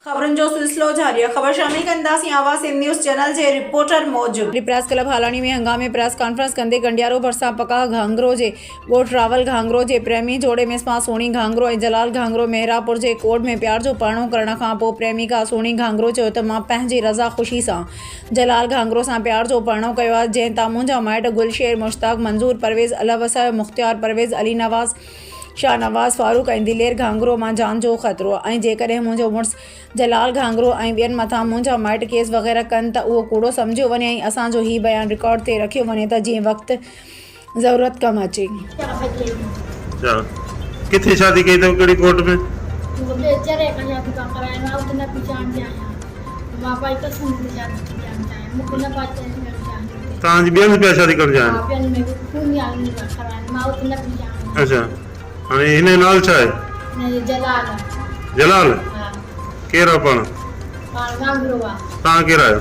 خبرن جو سلسلو جاري آهي خبر شامل ڪنداسين آواز سنڌ نيوز چينل جي رپورٽر موجب. ڊي پريس ڪلب هالاڻي ۾ هنگامي پريس ڪانفرنس ڪندي گنڊيارو ڀرسان پڪاهه گهانگرو جي ڳوٺ راول گهانگرو جي پريمي جوڙي ۾ اسمان سهڻي گهانگرو ۽ جلال گهانگرو مهراپور جي ڪورٽ ۾ پيار جو پرڻو ڪرڻ کان پوء پريميڪا سهڻي گهانگرو چيو ته مان پنهنجي رضا خوشي سان جلال گهانگرو سان پيار جو پرڻو ڪيو آهي جنهن تان منهنجا مائٽ گل شير مشتاق منظور پرويز الهه وسايو مختيار پرويز علي نواز شاهنواز فاروق ۽ دلير گهانگرو مان جان جو خطرو آهي ۽ جيڪڏهن منهنجو مڙس جلال گهانگرو ۽ ٻين مٿان منهنجا مائٽ ڪيس وغيره ڪن ته اهو ڪوڙو سمجهيو وڃي ۽ اسان جو هي بيان رڪارڊ تي رکيو وڃي ته جيئن وقت ضرورت ڪم اچي. تان جي ٻين پيا شادي ڪرڻ چاهين. اچا هاڻي هن جو نالو ڇا آهي. جلال ڪير آهي پاڻ. تان ڪير آهيو.